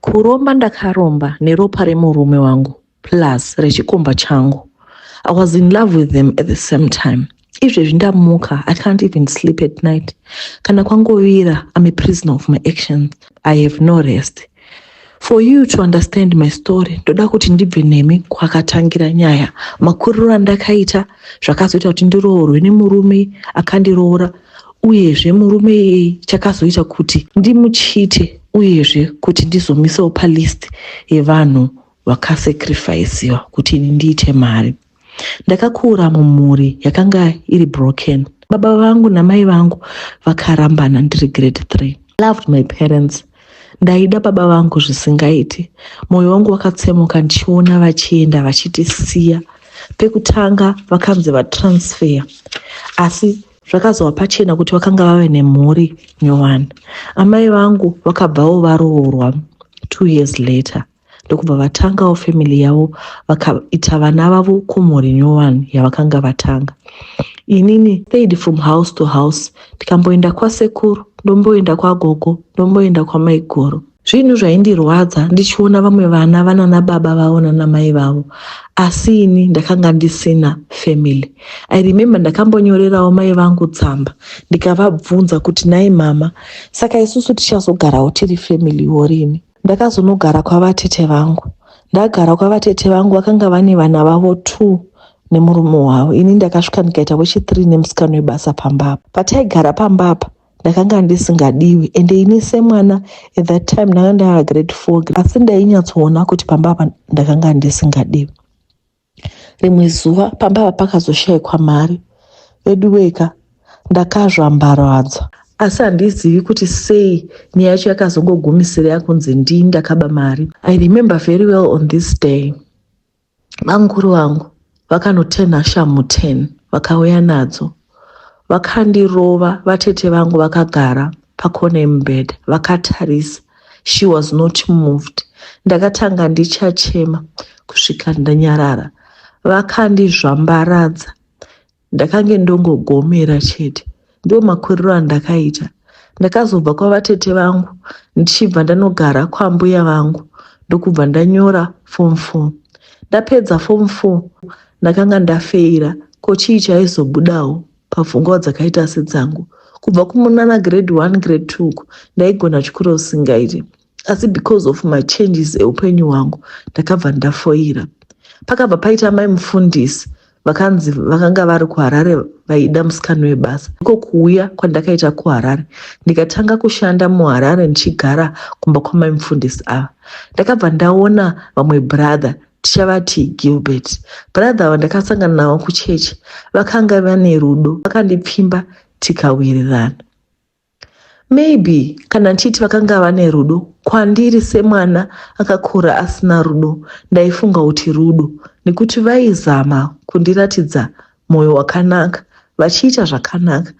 Kuromba ndakaromba neropa remurume wangu plus rechikomba changu. I was in love with them at the same time. Izvezvi ndamuka, I can't even sleep at night. Kana kwangovira, I'm a prisoner of my actions. I have no rest. For you to understand my story, ndoda kuti ndibve nemi kwakatangira nyaya. Makuriro andakaita zvakazoita kuti ndiroorwe nemurume akandiroora uyezve murume iyeye chakazoita kuti ndimuchite uyezve kuti ndizomisawo palist yevanhu vakasacrificiwa kuti ini ndiite mari ndakakura mumhuri yakanga iri broken baba vangu namai vangu vakarambana ndiri grade three loved my parents ndaida baba vangu zvisingaiti mwoyo wangu wakatsemuka ndichiona vachienda vachitisiya pekutanga vakanzi vatransfer asi zvakazova pachena kuti vakanga vave nemhuri nyowani amai vangu vakabvawo varoorwa two years later ndokubva vatangawo family yavo vakaita vana vavo kumhuri nyowani yavakanga vatanga inini stayed from house to house ndikamboenda kwasekuru ndomboenda kwagogo ndomboenda kwamaiguru zvinhu zvaindirwadza ndichiona vamwe vana vanana baba vavo nana mai vavo asi ini ndakanga ndisina family i remember ndakambonyorerawo mai vangu tsamba ndikavabvunza kuti nai mama saka isusu tichazogarawo tiri family yorini ndakazonogara kwavatete vangu ndagara kwavatete vangu vakanga vane vana vavo two nemurume wavo ini ndakasvika ndikaita wechithree nemusikano webasa pamba apa pataigara pamba apa ndakanga ndisingadiwi and ini semwana at that time ndanga ndava grade four asi ndainyatsoona kuti pamba apa ndakanga ndisingadiwi rimwe zuva pamba apa pakazoshayikwa mari veduweka ndakazvambaradzwa asi handizivi kuti sei nyaya yacho yakazongogumisira yakunzi ndii ndakaba mari i remember very well on this day bamukuru vangu vakanotenha shamhu 10 vakauya nadzo vakandirova vatete vangu vakagara pakona yemubhedha vakatarisa she was not moved ndakatanga ndichachema kusvika ndanyarara vakandizvambaradza ndakange ndongogomera chete ndiwo makuriro andakaita ndakazobva kwavatete vangu ndichibva ndanogara kwambuya vangu ndokubva ndanyora fom four ndapedza fom four ndakanga ndafeira ko chii chaizobudawo papfungwa dzakaita sedzangu kubva kumunana grade one grade two uku ndaigona chikuru usingaiti asi because of machanges eupenyu hwangu ndakabva ndafoira pakabva paita mai mufundisi vakanzi vakanga vari kuharare vaida musikano webasa iko kuuya kwandakaita kuharare ndikatanga kushanda muharare ndichigara kumba kwamai mufundisi ava ndakabva ndaona vamwe brother tichavati gilbert brother ava ndakasangana navo kuchechi vakanga vane rudo vakandipfimba tikawirirana Maybe kana ndichiti vakanga vane rudo kwandiri semwana akakura asina rudo ndaifunga kuti rudo nekuti vaizama kundiratidza moyo wakanaka vachiita zvakanaka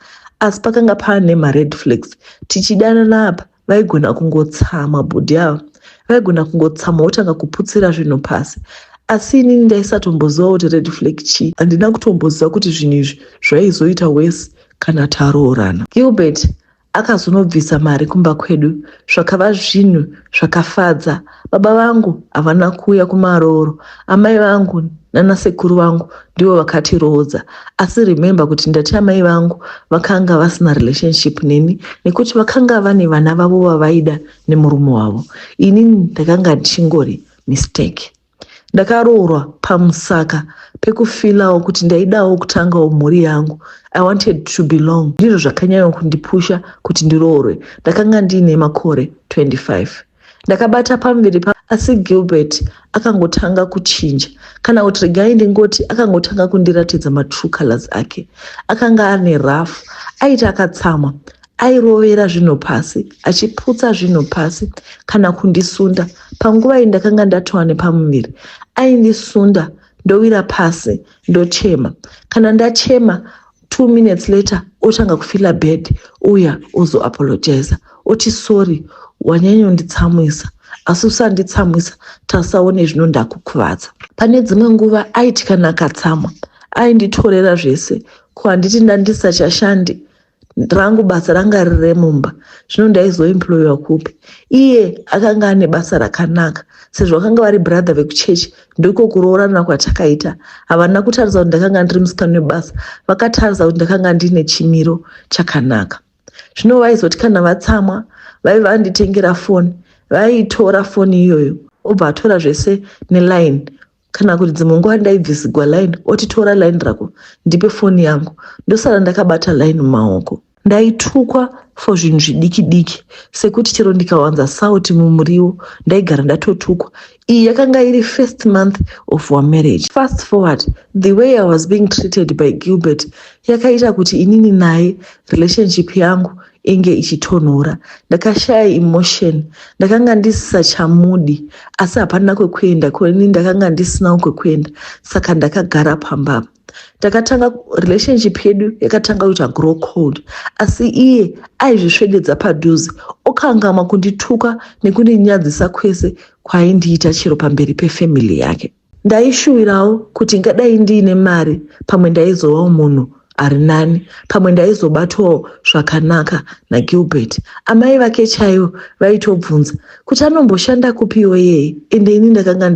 asi pakanga paane mared flags tichidanana apa vaigona kungotsamwa bhudhi ava vaigona kungotsamwa wotanga kuputsira zvinhu pasi asi inini ndaisatomboziva kuti red flag chii handina kutomboziva kuti zvinhu izvi zvaizoita wese kana taroorana. Gilbert akazonobvisa mari kumba kwedu zvakava zvinhu zvakafadza. Baba vangu havana kuuya kumarooro, amai vangu nana sekuru vangu ndivo vakatiroodza asi remember kuti ndati amai vangu vakanga vasina relationship neni nekuti vakanga vane vana vavo vavaida nemurume wavo ini ndakanga ndichingori mistake ndakaroorwa pamusaka pekufilawo kuti ndaidawo kutangawo mhuri yangu i wanted to belong ndizvo zvakanyanya kundipusha kuti ndiroorwe ndakanga ndiine makore 25 ndakabata pamuviri pa asi gilbert akangotanga kuchinja kana kuti regai ndingoti akangotanga kundiratidza matrue colors ake akanga ane rough aiti akatsamwa airovera zvinhu pasi achiputsa zvinhu pasi kana kundisunda panguva iyi ndakanga ndatova nepamuviri aindisunda ndowira pasi ndochema kana ndachema two minutes later otanga kufila bed uya ozoapologiza oti sorry wanyanyonditsamwisa asi usanditsamwisa tasaone zvino ndakukuvadza pane dzimwe nguva aiti kana akatsamwa ainditorera zvese ko handiti ndandisachashandi rangu basa ranga riri remumba zvino ndaizoemployiwa kupi iye akanga ane basa rakanaka sezvo vakanga vari brother vekuchechi ndiko kuroorana kwatakaita havana kutarisa kuti ndakanga ndiri musikani webasa vakatarisa kuti ndakanga ndiine chimiro chakanaka zvino vaizoti kana vatsamwa vaive vanditengera foni vaitora foni iyoyo obva atora zvese neline kana kuti dzimwe nguva ndaibvisigwa line oti tora line rako ndipe foni yangu ndosara ndakabata line mumaoko ndaitukwa for zvinhu zvidiki diki sekuti chero ndikawanza sauti mumuriwo ndaigara ndatotukwa iyi yakanga iri first month of our marriage fast forward the way i was being treated by gilbert yakaita kuti inini naye relationship yangu inge ichitonhora ndakashaya emotion ndakanga ndisisachamudi asi hapana kwekuenda koni ndakanga ndisinawo kwekuenda saka ndakagara pamba takatanga relationship yedu yakatanga kuita grow cold asi iye aizvisvededza padhuze okangamwa kundituka nekundinyadzisa kwese kwaindiita chero pamberi pefamily yake Ndaishuwirawo kuti ngadai ndiine mari pamwe ndaizovawo munhu ari nani, pamwe ndaizobatwawo zvakanaka naGilbert. Amai vake chaivo vaitobvunza kuti anomboshanda kupiwo iyeye ende ini ndakanga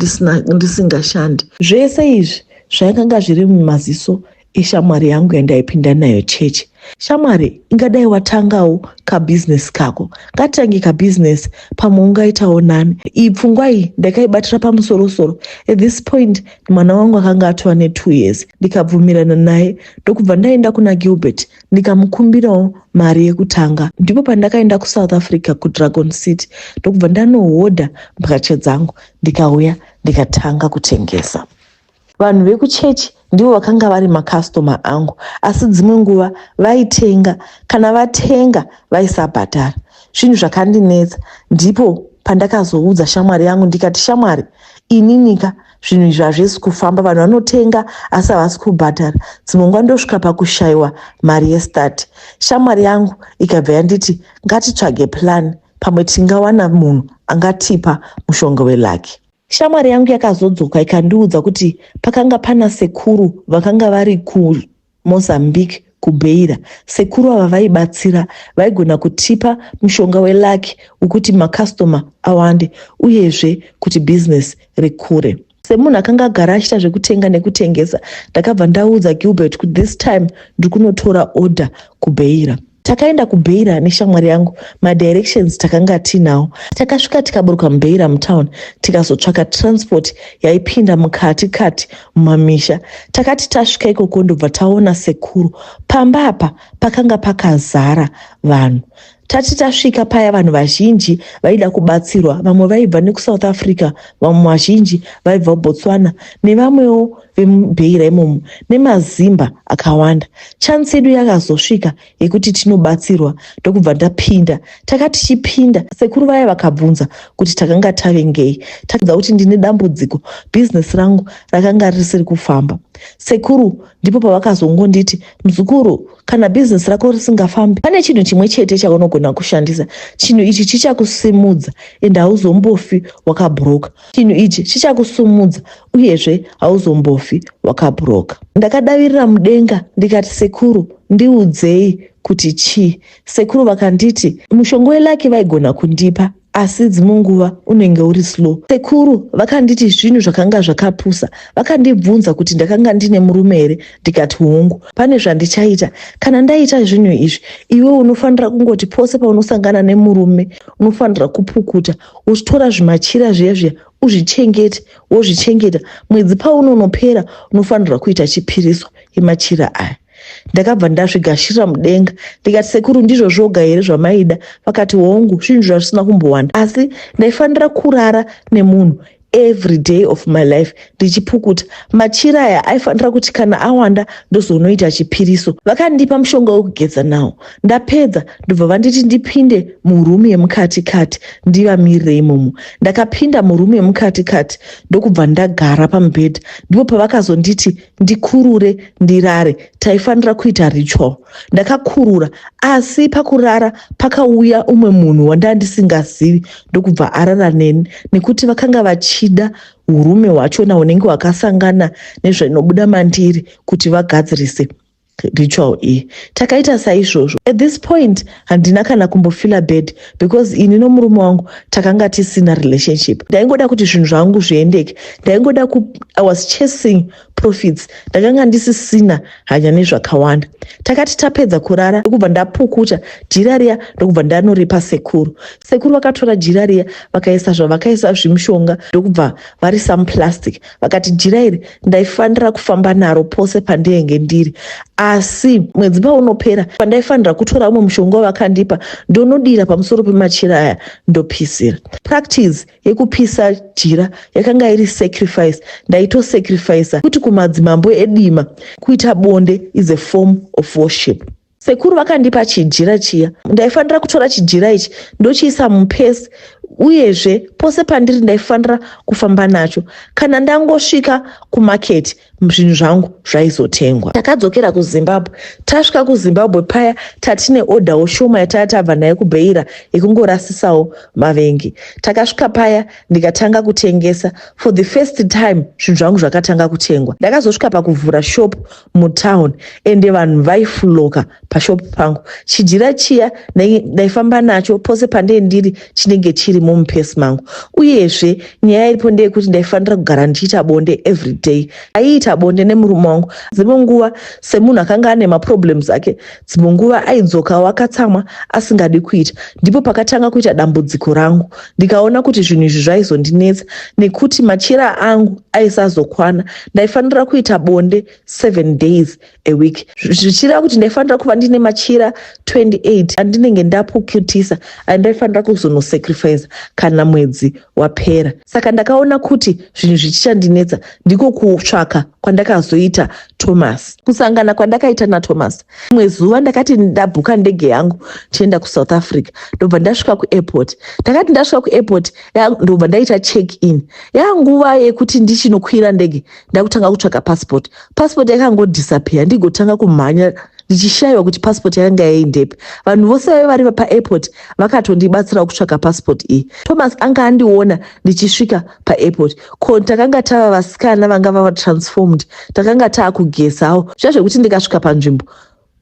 ndisingashandi. Zvese izvi zvaikanga zviri mumaziso ishamwari yangu yandaipinda nayo chechi shamwari ingadai watangawo kabhizinesi kako ngatitange kabhizinesi pamwe ungaitawo nani iyi pfungwa iyi ndakaibatira pamusorosoro at this point mwana wangu akanga atova netwo years ndikabvumirana naye ndokubva ndaenda kuna gilbert ndikamukumbirawo mari yekutanga ndipo pandakaenda kusouth africa kudragon city ndokubva ndanohodha mbatya dzangu ndikauya ndikatanga kutengesa Vanhu vekuchechi ndivo vakanga vari makastoma angu, asi dzimwe nguva vaitenga. Kana vatenga vaisabhadhara, zvinhu zvakandinetsa. Ndipo pandakazoudza shamwari yangu ndikati, shamwari, ininika zvinhu izvi hazvisi kufamba, vanhu vanotenga asi havasi kubhadhara. Dzimwe nguva ndosvika pakushaiwa mari yestati. Shamwari yangu ikabva yanditi ngatitsvage plan, pamwe tingawana munhu angatipa mushonga welaki. Shamwari yangu yakazodzoka ikandiudza kuti pakanga pana sekuru vakanga vari kuMozambique kuBeira. Sekuru ava vaibatsira, vaigona kutipa mushonga welucky wekuti makasitoma awande uyezve kuti business rikure. Semunhu akanga agara achita zvekutenga nekutengesa, ndakabva ndaudza Gilbert kuti this time ndiri kunotora order kuBeira. Takaenda kuBeira neshamwari yangu, madirections takanga tiinawo. Takasvika tikaburuka muBeira mutown tikazotsvaka transport yaipinda mukati kati mumamisha. Takati tasvika ikoko ndobva taona sekuru. Pamba apa pakanga pakazara vanhu. Tati tasvika paya vanhu vazhinji vaida kubatsirwa, vamwe vaibva nekuSouth Africa, vamwe vazhinji vaibva kuBotswana nevamwewo vemubeira imomo nemazimba akawanda chance yedu yakazosvika yekuti tinobatsirwa ndokubva ndapinda taka tichipinda sekuru vaya vakabvunza kuti takanga tave ngei takudza kuti ndine dambudziko bhizinesi rangu rakanga risiri kufamba sekuru ndipo pavakazongonditi mzukuru kana bhizinesi rako risingafambi pane chinhu chimwe chete chaunogona kushandisa chinhu ichi chichakusimudza ende hauzombofi wakabhuroka chinhu ichi chichakusumudza uyezve hauzombofi wakabhuroka ndakadavirira mudenga ndikati sekuru ndiudzei kuti chii sekuru vakanditi mushonga welaki vaigona kundipa asi dzimwe nguva unenge uri slow sekuru vakanditi zvinhu zvakanga zvakapusa vakandibvunza kuti ndakanga ndine murume here ndikati hongu pane zvandichaita kana ndaita zvinhu izvi iwe unofanira kungoti pose paunosangana nemurume unofanira kupukuta uchitora zvimachira zviya zviya uzvichengete wozvichengeta mwedzi paunonopera unofanirwa kuita chipiriso yemachira aya ndakabva ndazvigashirira mudenga ndikati sekuru ndizvo zvoga here zvamaida vakati hongu zvinhu zvazvisina kumbowanda asi ndaifanira kurara nemunhu every day of my life ndichipukuta machira aya aifanira kuti kana awanda ndozoonoita chipiriso vakandipa mushonga wekugeza nawo ndapedza ndobva vanditi ndipinde murumu yemukati kati ndivamirire imomo ndakapinda murumu yemukati kati ndokubva ndagara pamubhedha ndipo pavakazonditi ndikurure ndirare taifanira kuita ritual ndakakurura asi pakurara pakauya umwe munhu wandanga ndisingazivi ndokubva arara neni nekuti vakanga vachida urume hwachona hunenge hwakasangana nezvainobuda mandiri kuti vagadzirise ritual iyi takaita saizvozvo at this point handina kana kumbofila bed because ini nomurume wangu takanga tisina relationship ndaingoda kuti zvinhu zvangu zviendeke ndaingoda ku i was chasing profits ndakanga ndisisina hanya nezvakawanda takati tapedza kurara ndokubva ndapukuta jira riya ndokubva ndanoripa sekuru sekuru vakatora jira riya vakaisa zvavakaisa zvimushonga ndokubva vari some plastic vakati jira iri ndaifanira kufamba naro pose pandinenge ndiri asi mwedzi paunopera pandaifanira kutora umwe mushonga wavakandipa ndonodira pamusoro pemachira aya ndopisira practice yekupisa jira yakanga iri sacrifice ndaitosacrificer kuti kumadzimambo edima kuita bonde is a form of worship sekuru vakandipa chijira chiya ndaifanira kutora chijira ichi ndochiisa mupesi uyezve pose pandiri ndaifanira kufamba nacho kana ndangosvika kumaketi zvinhu zvangu zvaizotengwa takadzokera kuzimbabwe tasvika kuzimbabwe paya tatine odhawo shoma yataya tabva nayo kubeira yekungorasisawo mavengi takasvika paya ndikatanga kutengesa for the first time zvinhu zvangu zvakatanga kutengwa ndakazosvika pakuvhura shop mutown ende vanhu vaifuloka pashop pangu chijira chiya ndaifamba nacho pose pandee ndiri chinenge chiri mumupesi mangu uyezve nyaya iripo ndeyekuti ndaifanira kugara ndichiita bonde everyday aiita bonde nemurume wangu dzimwe nguva semunhu akanga ane maproblems ake dzimwe nguva aidzokawo akatsamwa asingadi kuita ndipo pakatanga kuita dambudziko rangu ndikaona kuti zvinhu izvi zvaizondinetsa nekuti machira angu aisazokwana ndaifanira kuita bonde seven days a week zvichireva kuti ndaifanira kuva ndine machira 28 andinenge ndapukutisa andaifanira kuzonosacrifice kana mwedzi wapera saka ndakaona kuti zvinhu zvichichandinetsa ndiko kutsvaka kwandakazoita thomas kusangana kwandakaita nathomas imwe zuva ndakati ndabhuka ndege yangu tienda kusouth africa ndobva ndasvika kuairport ndakati ndasvika kuairport ndobva ndaita check in yanguva yekuti ndichinokwira ndege ndakutanga kutsvaga passport passport yakangodisappear ndigotanga kumhanya ndichishaiwa kuti passport yakanga yaindepi vanhu vose vaive vari paairport vakatondibatsirawo kutsvaga passport iyi thomas anga andiona ndichisvika paairport ko takanga tava vasikana vanga vava transformed takanga taakugezao zviya zvekuti ndikasvika panzvimbo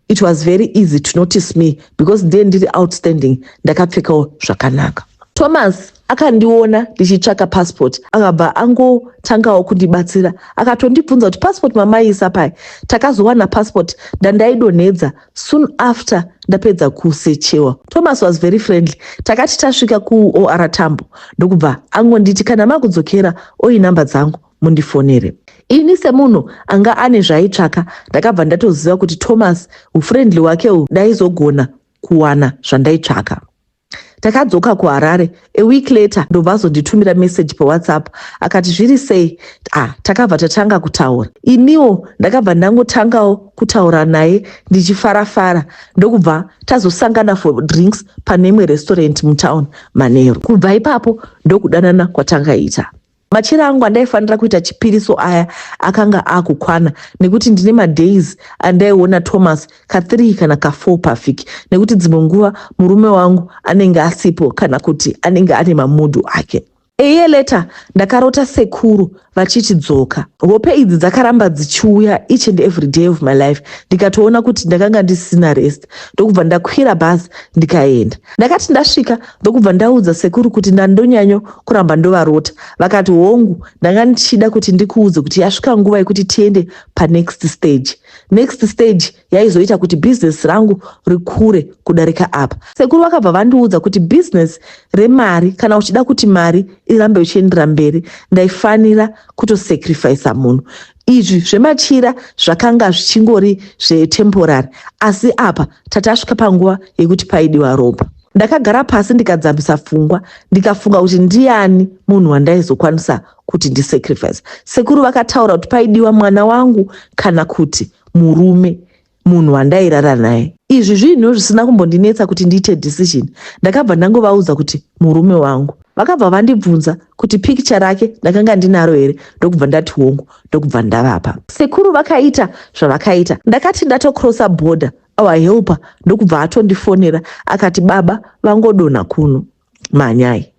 it was very easy to notice me because ndiye ndiri outstanding ndakapfekawo zvakanaka thomas akandiona ndichitsvaka passport akabva angotangawo kundibatsira akatondibvunza kuti passport mamaiisa pai takazowana passport ndandaidonhedza soon after ndapedza kusechewa thomas was very friendly takati tasvika kuor tambo ndokubva angonditi kana makudzokera oinhamba dzangu mundifonere. Ini semunhu anga ane zvaitsvaka ndakabva ndatoziva kuti Thomas ufriendly wake uhu ndaizogona kuwana zvandaitsvaka. Takadzoka kuHarare a week later ndobva azonditumira message paWhatsApp akati zviri sei? Ah, takabva tatanga kutaura. Iniwo ndakabva ndangotangawo kutaura naye ndichifara fara ndokubva tazosangana for drinks pane imwe restaurant mutown manheru. Kubva ipapo ndokudanana kwatangaita. Machira angu andaifanira kuita chipiri so aya akanga akukwana nekuti ndine madays andaiona Thomas ka 3 kana ka 4 pavhiki nekuti dzimwe nguva murume wangu anenge asipo kana kuti anenge ane mamudhu ake. A year later ndakarota sekuru vachiti dzoka. Hope idzi dzakaramba dzichiuya each and every day of my life ndikatoona kuti ndakanga ndisina rest ndokubva ndakwira bhazi ndikaenda. Ndakati ndasvika ndokubva ndaudza sekuru kuti ndandonyanyo kuramba ndovarota vakati hongu ndanga ndichida kuti ndikuudze kuti yasvika nguva yekuti tiende panext stage next stage yaizoita kuti bhizinesi rangu rikure kudarika apa sekuru vakabva vandiudza kuti bhizinesi remari kana uchida kuti mari irambe uchiendera mberi ndaifanira kutosacrifisa munhu Izvi zvemachira zvakanga zvichingori zvetemporary asi apa tatasvika panguva yekuti paidiwa ropa. Ndakagara pasi ndikadzamisa pfungwa ndikafunga kuti ndiani munhu wandaizokwanisa kuti ndisacrifice. Sekuru vakataura kuti paidiwa mwana wangu kana kuti murume. munhu wandairara naye. Izvi zvinhu zvisina kumbondinetsa kuti ndiite decision. Ndakabva ndangovaudza kuti murume wangu. Vakabva vandibvunza kuti picture rake ndakanga ndinaro here ndokubva ndati hongu ndokubva ndavapa. Sekuru vakaita zvavakaita ndakati ndatocrossa border our helper ndokubva atondifonera akati baba vangodonha kuno. mhanyai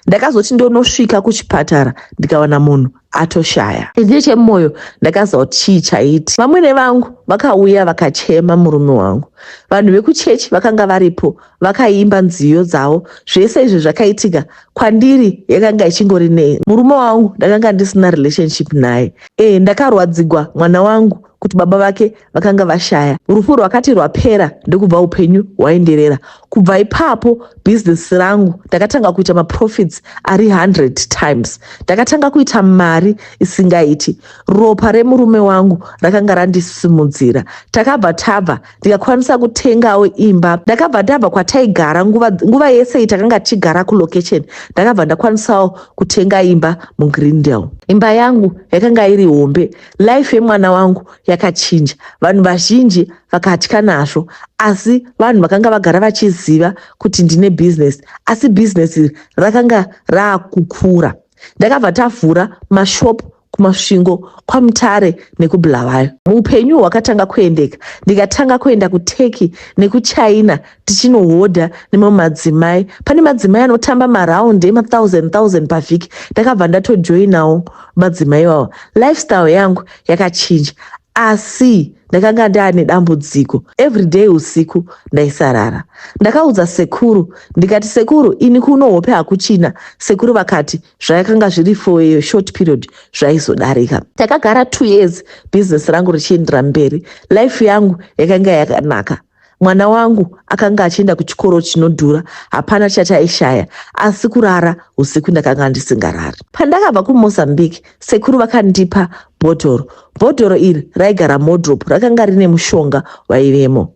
ndakazoti ndonosvika kuchipatara ndikawana munhu atoshaya chii chemoyo ndakaziva kuti chii chaiti vamwene vangu vakauya vakachema murume wangu vanhu vekuchechi vakanga varipo vakaimba nziyo dzavo zvese izvi zvakaitika kwandiri yakanga ichingori nei murume wangu ndakanga ndisina relationship naye e ndakarwadzigwa mwana wangu kuti baba vake vakanga vashaya. Rufu rwakati rwapera ndokubva upenyu hwaenderera. Kubva ipapo business rangu ndakatanga kuita maprofits ari 100 times. Ndakatanga kuita mari isingaiti. Ropa remurume wangu rakanga randisimudzira. Takabva tabva ndikakwanisa kutengawo imba. Ndakabva ndabva kwataigara nguva, nguva yese iyi takanga tichigara kulocation. Ndakabva ndakwanisawo kutenga imba muGreendale. Imba yangu yakanga iri hombe Life yemwana wangu yakachinja. Vanhu vazhinji vakatya nazvo asi vanhu vakanga vagara vachiziva kuti ndine business asi business iri rakanga raakukura. Ndakabva tavhura mashop kumasvingo kwamutare nekubulawayo. Muupenyu hwakatanga kuendeka ndikatanga kuenda kuturkey nekuchina tichinohodha nemamwe madzimai pane madzimai anotamba maround emathousand thousand pavhiki ndakabva ndatojoinawo madzimai iwawa lifestyle yangu yakachinja asi ndakanga ndaane dambudziko everyday usiku ndaisarara ndakaudza sekuru ndikati sekuru ini kuno hope hakuchina sekuru vakati zvayakanga zviri for a short period zvaizodarika takagara two years business rangu richiendera mberi life yangu yakanga yakanaka Mwana wangu akanga achienda kuchikoro chinodhura, hapana chataishaya asi kurara usiku ndakanga ndisingarari. Pandakabva kuMozambique, sekuru vakandipa bhodhoro. Bhodhoro iri raigara modrop, rakanga rine mushonga waivemo.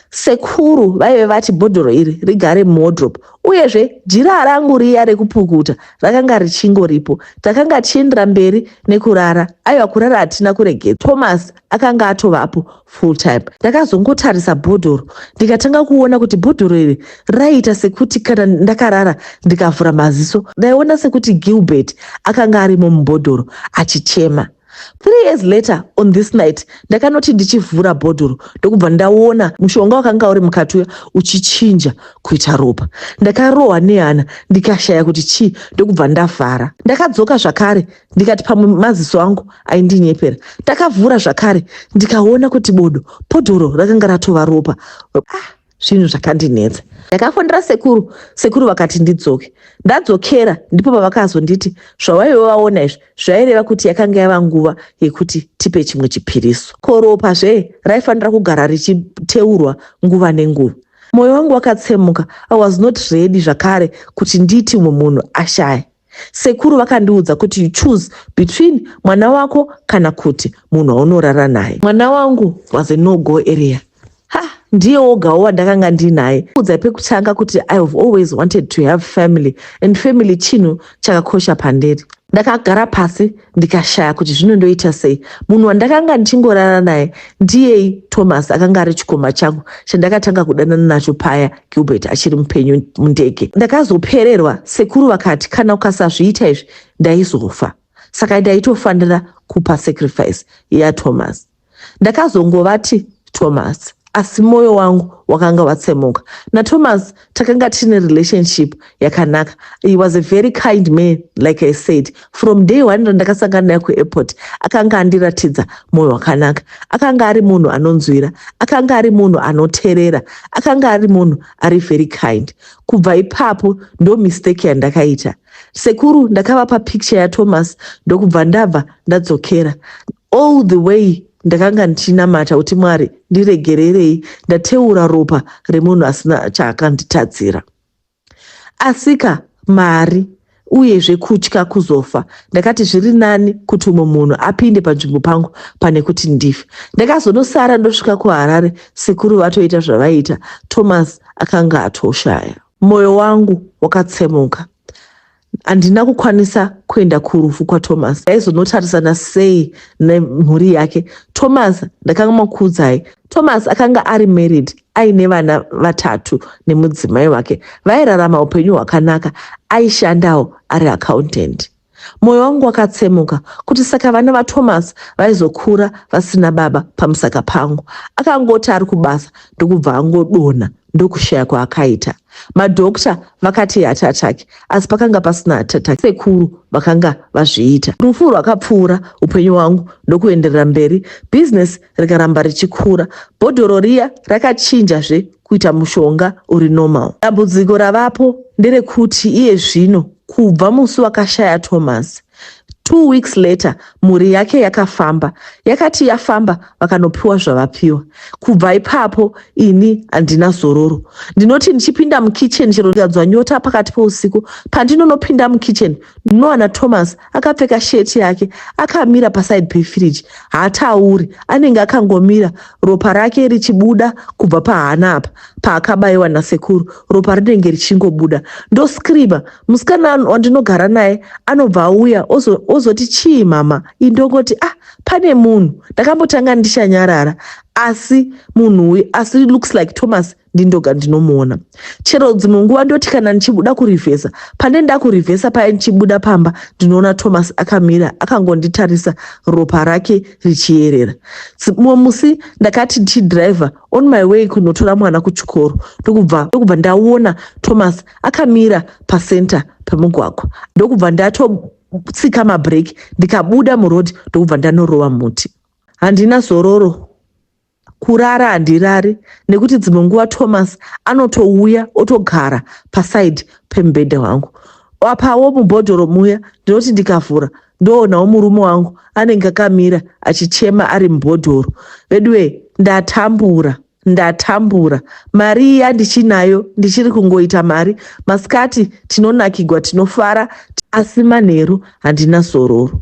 Sekuru vaive vati bhodhoro iri rigare muwodrop, uyezve jira rangu riya rekupukuta rakanga richingoripo. Takanga tichiendera mberi nekurara, aiwa kurara hatina kuregedza. Thomas akanga atovapo full time ndakazongotarisa bhodhoro ndikatanga kuona kuti bhodhoro iri raiita sekuti kana ndakarara ndikavhura maziso ndaiona sekuti gilbert akanga arimo mubhodhoro achichema three years later on this night ndakanoti ndichivhura bhodhoro ndokubva ndaona mushonga wakanga uri mukati uya uchichinja kuita ropa ndakarohwa nehana ndikashaya kuti chii ndokubva ndavhara ndakadzoka zvakare ndikati pamwe maziso angu aindinyepera takavhura zvakare ndikaona kuti bodo podhoro rakanga ratova ropa ah, zvinhu zvakandinetsa ndakafonera sekuru sekuru vakati ndidzoke ndadzokera ndipo pavakazonditi zvawaive vaona izvi zvaireva kuti yakanga yava nguva yekuti tipe chimwe chipiriso koropa zve raifanira kugara richiteurwa nguva nenguva mwoyo wangu wakatsemuka i was not ready zvakare kuti ndiiti mumwe munhu ashaye Sekuru vakandiudza kuti you choose between mwana wako kana kuti munhu waunorara naye. Mwana wangu was a no go area. Ha, ndiye wogawo wandakanga ndinaye. Udza pekutanga kuti I have always wanted to have family and family chinhu chakakosha pandiri. Ndakagara pasi ndikashaya kuti zvino ndoita sei munhu wandakanga ndichingorara naye ndiyei thomas akanga ari chikoma changu chandakatanga kudanana nacho paya gilbert achiri mupenyu mundege ndakazopererwa sekuru vakati kana ukasazviita izvi ndaizofa saka ndaitofanira kupa sacrifice yathomas Ndakazongovati Thomas asi moyo wangu wakanga watsemuka. NaThomas takanga tine relationship yakanaka. He was a very kind man like I said. From day one randakasangana naye kuairport akanga andiratidza moyo wakanaka. Akanga ari munhu anonzwira, akanga ari munhu anoterera, akanga ari munhu ari very kind. Kubva ipapo ndo mistake yandakaita. Sekuru ndakavapa picture yaThomas ndokubva ndabva ndadzokera. All the way ndakanga ndichinamata kuti Mwari ndiregererei ndateura ropa remunhu asina chaakanditadzira. Asika mari uyezve kutya kuzofa ndakati zviri nani kuti umwe munhu apinde panzvimbo pangu pane kuti ndife ndakazonosara ndosvika kuharare sekuru vatoita zvavaiita thomas akanga atoshaya mwoyo wangu wakatsemuka Handina kukwanisa kuenda kurufu kwaThomas. Aizonotarisana sei nemhuri yake? Thomas ndakanga makuudzai. Thomas akanga ari married aine vana vatatu nemudzimai wake. Vairarama upenyu hwakanaka. Aishandawo ari accountant. Moyo wangu wakatsemuka kuti saka vana vaThomas vaizokura vasina baba pamusaka pangu. Akangoti ari kubasa ndokubva angodonha ndokushaya kwaakaita. Madhokta vakati iheart attack asi pakanga pasina heart attack. Sekuru vakanga vazviita. Rufu rwakapfuura upenyu hwangu ndokuenderera mberi, business rikaramba richikura. Bhodhoro riya rakachinjazve kuita mushonga uri normal. Dambudziko ravapo nderekuti iye zvino kubva musi wakashaya Thomas, Two weeks later mhuri yake yakafamba. Yakati yafamba vakanopiwa zvavapiwa. Kubva ipapo ini handina zororo. Ndinoti ndichipinda mukitchen chero ndikadzwa nyota pakati peusiku pandinonopinda mukitchen ndinowana Thomas akapfeka shirt yake akamira paside pefridge. Hatauri anenge akangomira ropa rake richibuda kubva pahana apa paakabaiwa nasekuru ropa rinenge richingobuda ndoscreamer musikana wandinogara naye anobva auya ozoti chii mama i ndongoti ah pane munhu ndakambotanga ndichanyarara asi munhu uyu asi looks like thomas ndindoga ndinomuona chero dzimwe nguva ndoti kana ndichibuda kurivhesa pane ndakurivhesa paye ndichibuda pamba ndinoona thomas akamira akangonditarisa ropa rake richiyerera mumwe musi ndakati ndichidriver on my way kunotora mwana kuchikoro ndokubva ndokubva ndaona thomas akamira pacenter pemugwagwa ndokubva ndatotsika mabreak ndikabuda muroad ndokubva ndanorova muti handina zororo kurara handirari nekuti dzimwe nguva thomas anotouya otogara pasaidi pemubhedha wangu apawo mubhodhoro muya ndinoti ndikavhura ndoonawo murume wangu anenge akamira achichema ari mubhodhoro veduwee ndatambura ndatambura mari iya ndichinayo ndichiri kungoita mari masikati tinonakigwa tinofara asi manheru handina zororo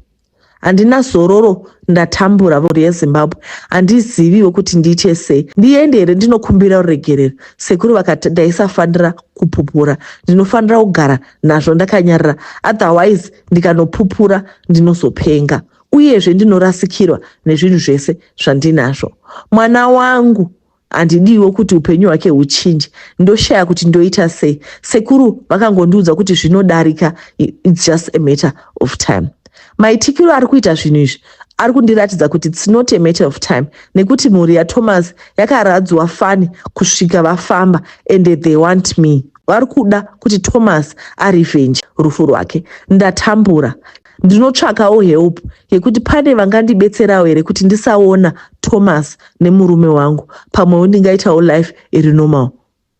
handina zororo ndatambura mhuri yezimbabwe handiziviwo kuti ndiite sei ndiende here ndinokumbira ruregerero sekuru vakati ndaisafanira kupupura ndinofanira kugara nazvo ndakanyarira otherwise ndikanopupura ndinozopenga uyezve ndinorasikirwa nezvinhu zvese zvandinazvo mwana wangu Handidiwo kuti upenyu hwake huchinje. Ndoshaya kuti ndoita sei. Sekuru vakangondiudza kuti zvinodarika, it's just a matter of time. Maitikiro ari kuita zvinhu izvi ari kundiratidza kuti it's not a matter of time nekuti mhuri yathomas yakaradzwa fani kusvika vafamba and they want me vari kuda kuti thomas arevenge rufu rwake ndatambura Ndinotsvakawo help yekuti pane vangandibetserawo here kuti ndisaona Thomas nemurume wangu pamwewo ndingaitawo life iri normal.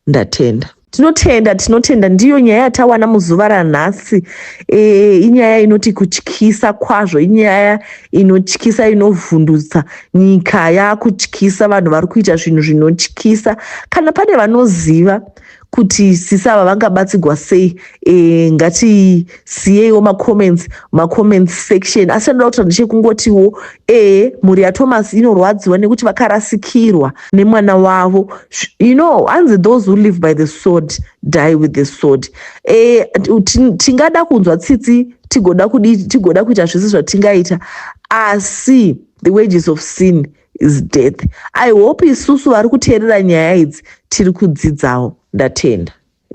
Ndatenda. Tinotenda, tinotenda. Ndiyo nyaya yatawana muzuva ranhasi. E, inyaya inoti kutyisa kwazvo, inyaya inotyisa, inovhundutsa. Nyika yakutyisa, vanhu vari kuita zvinhu zvinotyisa. Kana pane vanoziva kuti sisi ava vangabatsigwa sei e, ngatisiyeiwo macomments macomments section asi chandoda kutaura ndechekungotiwo e mhuri yathomas inorwadziwa nekuti vakarasikirwa nemwana wavo you know hanzi those who live by the sword die with the sword e, tingada kunzwa tsitsi tigoda kuita zvese zvatingaita asi the wages of sin is death i hope isusu vari kuteerera nyaya idzi tiri kudzidzawo ndatenda